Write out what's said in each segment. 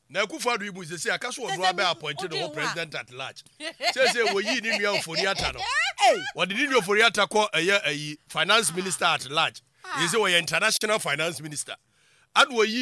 Na Akufo Addo yi mu sesei aka so ɔno abɛ appointe ne ho president at large. Sesei wɔ yii ne nua Ofori Atta no. Wɔde ne nua Ofori Atta kɔ ɛyɛ ayi finance minister at large. Sesei wɔyɛ international finance minister. Ɛna wɔ yii.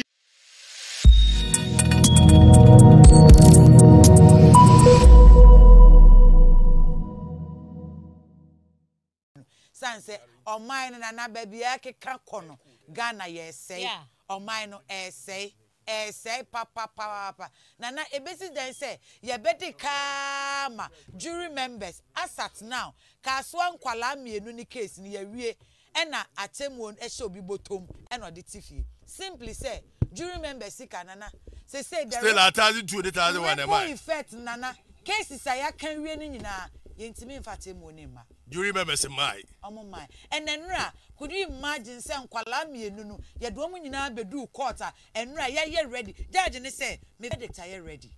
no sane sɛ ɔman no na baabi a ɛkeka kɔ no Ghana yɛresɛe ɔman no ɛresɛe ɛresɛe papapaapa Nana ɛbɛsi dɛn sɛ yɛbɛde kaa ma jury members as at now Kasoa nkwalaa mmienu ne case no yɛawie ɛna atemmuo no ɛhyɛ obi bɔtɔm ɛna ɔde te fie simply sɛ jury members sika Nana sesei the Still a thousand two ne thousand one ɛma ripple effect Nana cases a yɛaka awie no nyinaa yɛntumi mfa atemmuo no mma. Do you remember se mae? Ɔmo mae. Ɛna nura could you imagine sɛ nkwalaa mienu no yɛde ɔmo nyinaa beduu court a ɛnura yɛayɛ ready judge ne sɛ me verdict ayɛ ready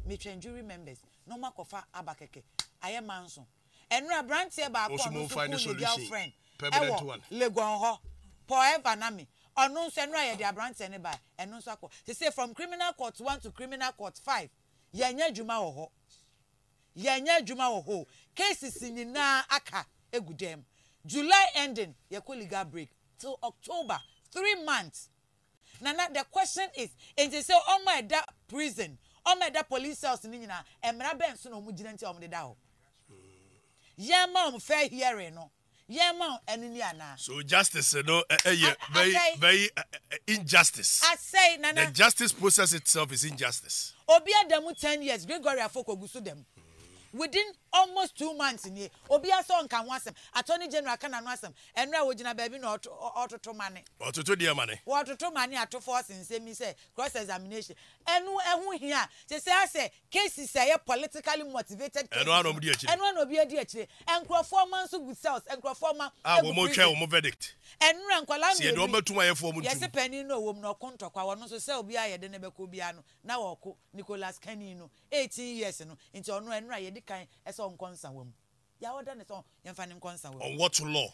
metwɛn do you remembers na ɔmo akɔfa aba kɛkɛ ayɛ manso ɛnura abranteɛ baako a ɔno nso kuu ne girlfriend ɛwɔ Legon hɔ Paul Ever na me ɔno nso ɛnura yɛde abranteɛ no baɛ ɛno nso akɔ sese from criminal court one to criminal court five yɛnyɛ adwuma wɔ hɔ. Yɛnyɛ adwuma wɔ hɔ o. Cases nyinaa aka gu dɛm. July ending yɛkɔ legal break till October, three months. Nana the question is nti sɛ ɔmo a ɛda prison, ɔmo a ɛda police cells no nyinaa mmara bɛn so na ɔmo gyina nti a ɔmo de da hɔ? Yɛn ma ɔmo fair hearing no yɛn ma wo ɛno ni anaa. So justice no ɛyɛ very very injustice. Asɛe nana. The justice process itself is injustice. Obi ada mu ten years Gregory Afoko gu so da mu within almost two months nie obiara sɛ ɔnka ho asɛm attorney general ka n'ano asɛm ɛnora wɔgyina baabi na ɔtoto mane ɔtoto deɛ mane wɔtoto mane ato force nsɛm yi sɛ cross examination ɛno ɛho hia te sɛ asɛ Cases a ɛyɛ politically motivated cases no, ɛno ara na obi adi akyire. Nkurɔfoɔ mma nso gu cells, nkurɔfoɔ mma gu prison. Ɛnora nkwadaa mmienu yi, yɛse panin no ɔwɔ mu no, ɔko ntɔkwa, ɔno nso cell biara a yɛde no bɛkɔ biara no, na ɔreko. Nicholas Kani no, eighteen years no, nti ɔno, ɛnora yɛdi kan sɛ ɔnkɔ nsawa mu. Deɛ ɔda ne so yɛn fa no nkɔ nsa wɔ mu. On what law?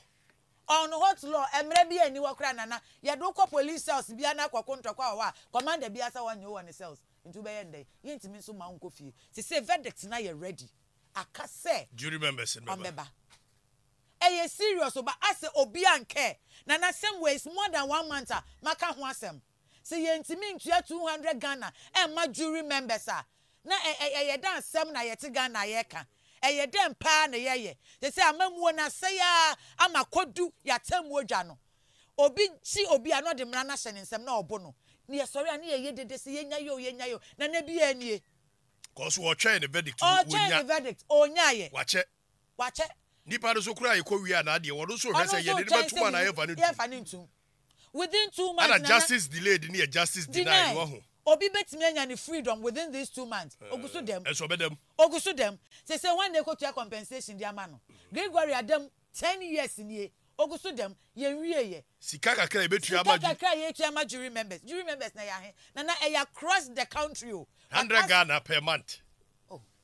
On what law? Ɛmmerɛ biara nni hɔ koraa nana, yɛde wo kɔ police cells biara na akɔko ntɔkwa wɔ hɔ a commander biara sɛ ɔnnye wo wɔ ne cells, nti wobɛyɛ no dɛn? Yɛntumi nso mma wo nkɔ fie. Sesei verdict no ayɛ ready, aka sɛ Jury members no bɛba. ɔmbɛba. Ɛyɛ serious o, but asɛ obiara nkɛɛ, nana asɛm wei it's more than one month a maka ho asɛm. sɛ yɛntumi ntua two hundred Ghana mma jury members a, na ɛ ɛ ɛyɛ dɛ asɛm na yɛte Ghana a yɛreka? Ɛyɛ dɛn pa ara na yɛyɛ? Seesei amammuo no asɛe ara ama akɔdu yɛn atemmuo dwa no. Obi gye obi a, na ɔde mmara no ahyɛ ne nsam na ɔbo no. Na yɛsɔre a, na yɛyɛ dede sɛ yɛnyae o, yɛnyae o. Nana biara nie. Kɔɔ so, ɔtwɛn ne verdict no, Ɔtwɛn ne wɔnnya. verdict, ɔnyaeɛ. Wakyɛ. wakyɛ. Nipa no so koraa yɛkɔ wie a na adeɛ wɔno nso hwɛ sɛ yɛde no bɛtom anaa yɛmfa no ntom. Ɛna justice delayed no yɛ justice denied wɔ ho. Obi bɛtumi anya ne freedom within these two months ɔgu so dam. Ɛnso ɔbɛda mu. Ɔgu so dam. Sesei hwan na ɛkɔtua compensation de ama no? Gregory ada mu ten years nie ɔgu so dam yɛnwieɛ. Sika kakra a yɛbɛtua ama. Sika kakra a yɛtua ama jury members. Jury members na ɛyɛ ahe? Nana ɛyɛ across the country o. Hundred Ghana per month.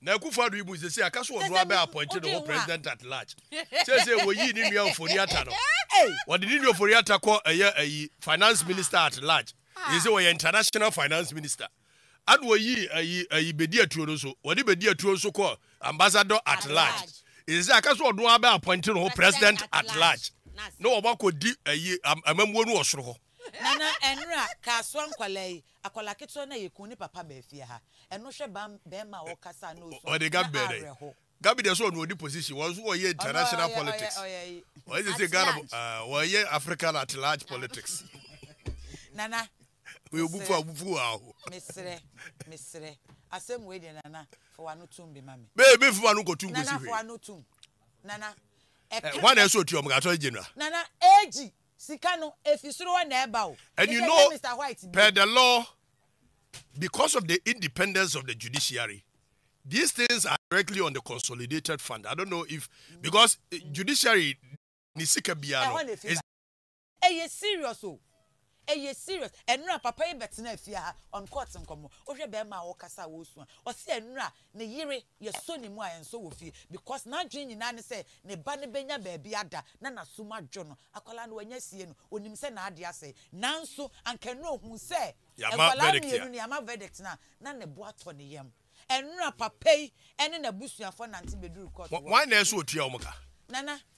Na Akufo Addo yi bu sɛ sɛ aka so ɔno ara bɛ appointe ne ho president at large. Seesei wɔyii ne nua Ofori Atta no. Wɔde ne nua Ofori Atta kɔ ɛyɛ ayi finance minister at large. Yɛ sɛ wɔyɛ international finance minister. Ɛna wɔyii ayi ayi bedi atuo no nso. Wɔde bedi atuo nso kɔ ambassador at large. Yɛ sɛ aka so ɔno ara bɛ appointe ne ho president at large. Na wɔakɔ di ayi amammuo no wɔ soro hɔ. Nana ɛnora kasoa nkwadaa yi Akwadaa ketewa no a yɛkuu ne papa baa fie ha. Ɛno hwɛ ba barima a ɔkasa a na ɔsu a, na awerɛho. Gabi deɛ sɛ ɔno ɔdi position wɔn nso wɔyɛ international politics wɔyɛ sɛ sɛ Ghana wɔyɛ African at large politics. Nana wɔyɛ obufu abufu aho. Mesrɛ mesrɛ asɛm wei deɛ nana fa wano tum bi ma me. Bɛɛ bɛ fi wano kɔ tum kɔ si hwee. Nana fa wano tum nana. Ɛɛ wɔn na ɛsɛ ɔtua wɔn atɔ gye nua. Nana egi Sika no, efi soro hɔ na ɛba o. And you know, per the law, because of the independence of the judiciary, these things are directly on the consolidated fund. I don't know if because eh, judiciary ni sika biano is ɛyɛ serious o ɛyɛ serious ɛnura papa yi bɛtena afie ha on court nkɔmɔ wohwɛ bɛrima a wɔkasa a wɔresua ɔsi ɛnura Ne yere yɛ sɔ ne mu a ɛnsɔ wɔ fie because n'adwene nyinaa ne sɛ ne ba no bɛnya baabi ada na n'asom adwo no. Akwadaa no wanya sie no, ɔnim sɛ n'adeɛ asɛe. Nanso anka ɛnnora ɔhu sɛ nkwadaa mmienu no yɛama verdict no a, na ne bo atɔ ne yam. Ɛnnora papa yi ne n'abusuafoɔ nante bɛduru court hɔ. Nana,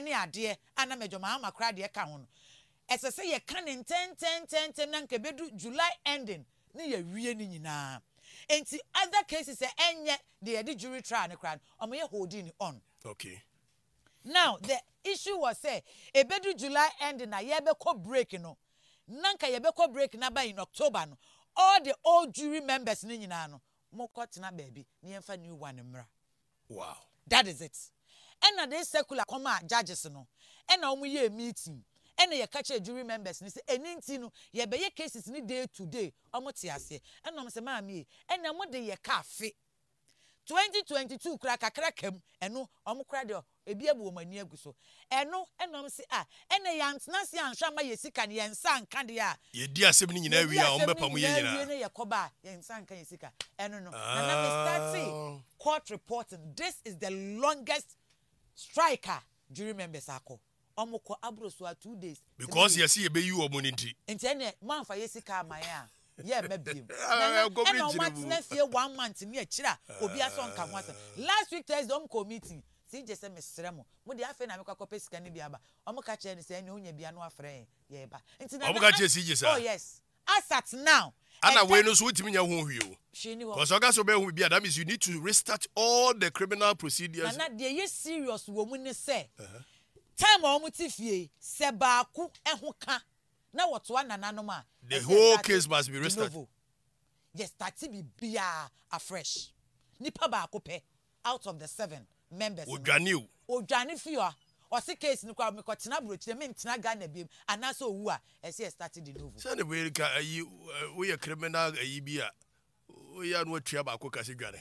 ne adeɛ a na Major Mahama koraa deɛ ka ho no, ɛsɛ sɛ yɛka no ntɛntɛntɛntɛm na anka ɛbɛdu July ending ne yɛawie ne nyinaa. Enti other cases a ɛnyɛ deɛ yɛde jury trial no koraa no, wɔyɛ holding no on. Okay. Now the issue was sɛ ɛbɛdu July ending a yɛbɛkɔ break no, na anka yɛbɛkɔ break no aba in October no, all the old jury members no nyinaa no, mo kɔ tena baabi na yɛn fa new one mmra wow that is it ɛna this secular kɔ maa judges no ɛna wɔn yɛɛ meeting ɛna yɛ ka kyerɛ jury members no sɛ ɛni nti no yɛ bɛ yɛ cases no day to day wɔn te aseɛ ɛna wɔn sɛ maame yɛ ɛna mo de yɛ ka afe twenty twenty two kura kakra ka mu ɛno wɔn kura deɛ Ebi abu wɔn ani agu so. Ɛno na wɔse, Ah, ɛnneɛ yɛantena ase anhwɛ amma yɛn sika no, yɛn nsa anka deɛ a. Yɛdii asɛm no nyinaa wie a, wɔbɛpamo yɛn nyinaa. Yɛdii asɛm no nyinaa wie na yɛkɔba a, yɛn nsa anka yɛn sika. Ɛno no, na na me startee court reporting. This is the longest strike a jury members akɔ. Ɔmo kɔ abro so a two days. Because yɛse yɛbɛyi ɔmo no nti. Nti ɛneɛ moanfa yɛ sika amma yɛn a yɛmma biom. Nana ɛna ɔmo atena fie one month ne akyire a obia sɛ ɔnka ho asɛm. Last week Thursday ɔmo kɔɔ meeting. CJ sɛ mesrɛ mo mo deɛ afei na mekɔ akɔpɛ sika no bi aba. Ɔmo ka kyerɛɛ no sɛ ɛneɛ onya bi a na wafrɛ yɛn yɛɛba. Nti Nana ask oh yes As at now, ɛda. Ana wei no nso wontumi nyɛ ho hwee o. Hwee nni hɔ. Because ɔka sɛ ɔbɛyɛ ho biribi a, that means you need to restart all the criminal procedures. Nana, deɛ ɛyɛ serious wɔ mu ne sɛ, time a wɔte fie yi, sɛ baako ho ka na wɔtoa nananom a, ɛsɛ yɛstarte de novo. The whole case must be restarted. Yɛstarte biribiara afresh. Nipa baako pɛ. out of the seven members no. Ɔdwane o. Ɔdwane fie a, ɔse case no koraa mekɔ tena abrokyire me ntena Ghana biom anaasɛ ɔwu a ɛsɛ yɛ start de novo. Sɛne wei ka ayi woyɛ criminal ayi bi a woyɛ a na watua baako ka sɛ dwane.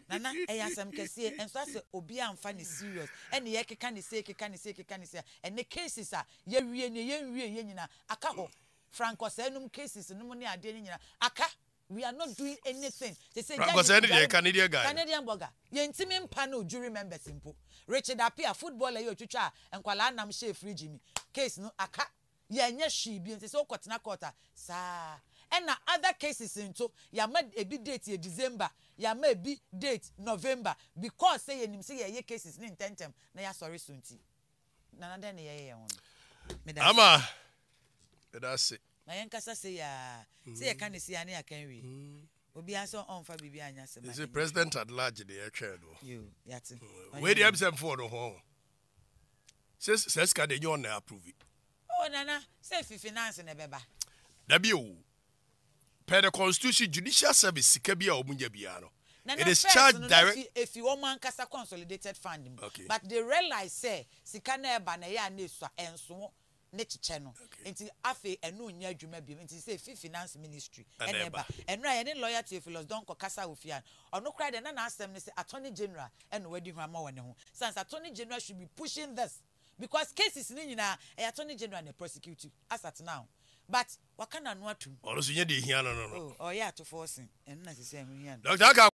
Nana ɛyɛ asɛm kɛseɛ ɛnso asɛ obiaa nfa no serious ɛne yɛkeka no sei keka no sei keka no sei a ɛnɛ cases a yɛwie nie yɛnwieɛ nyinaa aka hɔ Frank Ɔsɛɛ nom cases nom ne adeɛ no nyinaa aka We are not doing anything te sɛ Franco sɛ ɛne deɛ Canadian guy no. Canadian bɔga. Yɛntimi mpa no jury members mpo. Richard Appiah, footballer yi a ɔtwitwaa nkwadaa nam hyɛɛ fridge mu case no aka. Yɛanyɛ hwee bio nti sɛ wokɔtena court a saa ara. Ɛna other cases nso yɛama ebi date yɛ December, yɛama ebi date November because sɛ yɛnim sɛ yɛreyɛ cases no ntɛntɛm na yɛasɔre so nti. Nana dɛn ne yɛyɛ yɛn ho no? Meda ase. Ama, meda ase. Ma yɛnkasa sei aa. Sɛ yɛka ne sei aa ne yɛaka nwie. Mm. Obiara nso ɔmfa biribi anyɛ asɛm a. Ɛsɛ president at large de yɛtwɛn no. Yo, yɛate. Mm. Wei deɛ ɛbisɛ mfo no ho. Sɛ sɛ sika deɛ nyɛ ɔna approve. Oh nana, sɛ fi finance na ɛbɛba. Dabi o. per the constitution judicial service sika bi a wɔn nya biara no it is charged direct. na na first no na efi wɔn ankasa consolidated fund mu okay. but they realize sɛ sika na ɛba na ɛyɛ a na esua ɛnso ne kyekyɛ no okay. nti afei ɛno nyɛ adwuma bi nti sɛ efi finance ministry ɛna ɛba ɛno a yɛne lawyer Theophilus Donkor kasa wɔ fie a ɔno koraa deɛ na n'asɛm ne sɛ attorney general ɛna wadi ho ama wɔ ne ho sansa attorney general should be pushing this. because cases no nyinaa ɛyɛ attorney general na prosecute as at now but waka n'ano atom. Ɔno nso nyɛ deɛ ɛhia no no no. Oh ɔyɛ atofɔɔ sen ɛno na sesɛ ɛho hia no. Doctor aka.